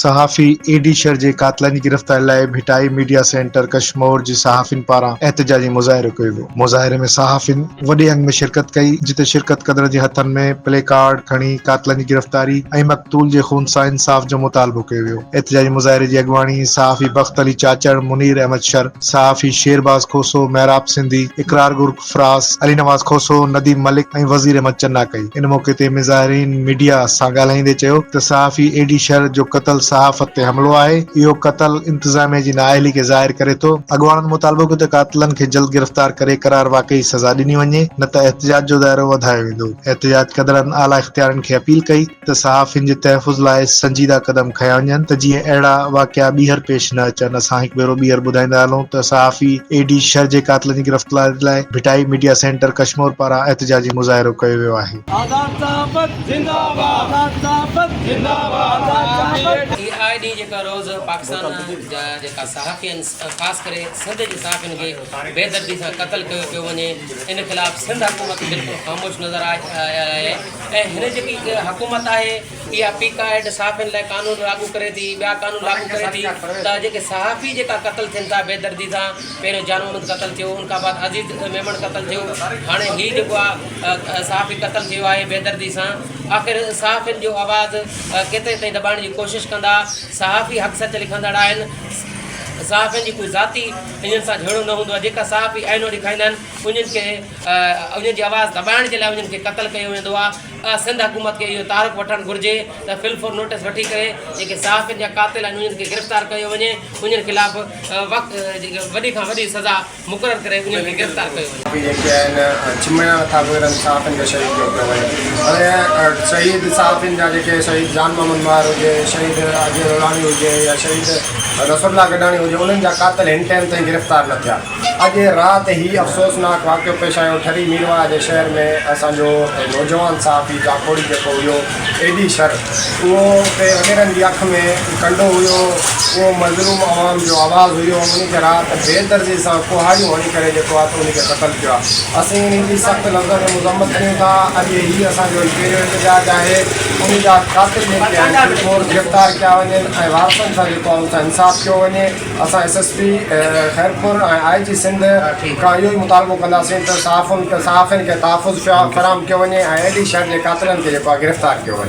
صحافي A D Shar جي قاتلن جي گرفتاري لاء ڀٽائي ميڊيا سينٽر ڪشمور جي صحافين پاران احتجاجي مظاهرو ڪيو ويو، مظاهري ۾ صحافين وڏي انگ ۾ شرڪت ڪئي جتي شرڪت ڪندڙن جي هٿن ۾ پلي ڪارڊ کڻي قاتلن جي گرفتاري ۽ مقتول جي خونسان انصاف جو مطالبو ڪيو ويو. احتجاجي مظاهري جي اڳواڻي صحافي بخت علي چاچڙ، منير احمد شر، صحافي شير باز کوسو، محراب سنڌي، اقرار گرگ فراس، علي نواز کوسو، نديم ملڪ ۽ وزير احمد چنا ڪئي. ان موقعي تي مظاهرين ميڊيا سان ڳالهائيندي چيو ته صحافي اي ڊي شر جو قتل صحافت تي حملو آهي، اهو قتل انتظاميه جي نااهلي کي ظاهر ڪري ٿو. اڳواڻن مطالبو ڪيو ته قاتلن کي جلد گرفتار ڪري قرار واقعي سزا ڏني وڃي نه ته احتجاج جو دائرو وڌايو ويندو. احتجاج ڪندڙن اعليٰ اختيارين کي اپيل ڪئي. ته صحافين جي تحفظ لاء سنجيده قدم کنيا وڃن ته جيئن اهڙا واقعا ٻيهر پيش نه اچن اسان هڪ ڀيرو ٻيهر ٻڌائيندا هلون ته صحافي اي ڊي شر جي قاتلن جي گرفتاري لاء ڀٽائي ميڊيا سينٽر ڪشمور پاران احتجاجي مظاهرو ڪيو ويو آهي. آزاد صحافت زنده باد آزاد صحافت زنده باد آزاد صحافت. اي آء ڊي جيڪا روز پاڪستان جا جيڪا صحافي آهن خاص ڪري سنڌ جي صحافين کي بي دردي سان قتل ڪيو پيو وڃي ان خلاف سنڌ حڪومت بلڪل خاموش نظر آئي آهي. ۽ هن جيڪي حڪومت آهي اها پي ڪا ايڊ صحافين لاء قانون لاڳو ڪري ٿي ٻيا قانون لاڳو ڪري ٿي ته جيڪي صحافي جيڪا قتل ٿين ٿا بيدردي سان پهريون جان محمد قتل ٿيو ان کان بعد عزيز ميمڻ قتل ٿيو هاڻي هي جيڪو آهي صحافي قتل ٿيو آهي بيدردي سان آخر صحافين جو آواز ڪيتري تائين دٻائڻ جي ڪوشش ڪندا صحافي حق سچ لکندڙ آهن صحافين جي ڪوئي ذاتي انهن سان جهيڙو نه هوندو آهي جيڪا صحافي آئينو ڏيکاريندا آهن انهن کي انهن جي آواز دٻائڻ جي لاء انهن کي قتل ڪيو ويندو آهي سنڌ حڪومت کي اهو تعارف وٺڻ گهرجي ته فل فور نوٽس وٺي ڪري جيڪي صحافين جا قاتل آهن انهن کي گرفتار ڪيو وڃي انهن خلاف وقت وڏي کان وڏي سزا مقرر ڪري انهن کي گرفتار ڪيو وڃي جيڪي آهن چمڙا نٿا وڪرن صحافين کي شهيد ڪيو پيو وڃي هاڻي شهيد صحافين جا جيڪي شهيد جان محمد ماهر هجي شهيد اجهه لولاڻي هجي يا شهيد ظفر الله گڏاڻي هجي انهن جا قاتل هن ٽائيم تائين گرفتار نه ٿيا اڄ رات هي افسوسناڪ واقعو پيش آيو ٺري ميرواهه جي شهر ۾ اسان جو نوجوان صحافي جاکوڙي جيڪو هيو ايڊي شر اهو اتي وڏيرن جي اک ۾ ڪنڊو هيو اهو مظلوم عوام جو آواز هيو ان کي رات بي درزي سان ڪهاڙيون هڻي ڪري جيڪو آهي ان کي قتل ڪيو آهي اسين ان جي سخت لفظن ۾ مذمت ڪريون ٿا اڄ هي اسان جو هي پهريون احتجاج آهي ان جا قاتل جيڪي آهن بلڪور گرفتار ڪيا وڃن ۽ وارثن سان جيڪو آهي ان سان انصاف ڪيو وڃي. اسان S S P Khairpur ۽ I G Sindh کان اهو ئي مطالبو ڪنداسين ته صحافين کي تحفظ فراهم ڪيو وڃي ۽ ايل ڊي شهر جي قاتلن کي جيڪو آهي گرفتار ڪيو وڃي.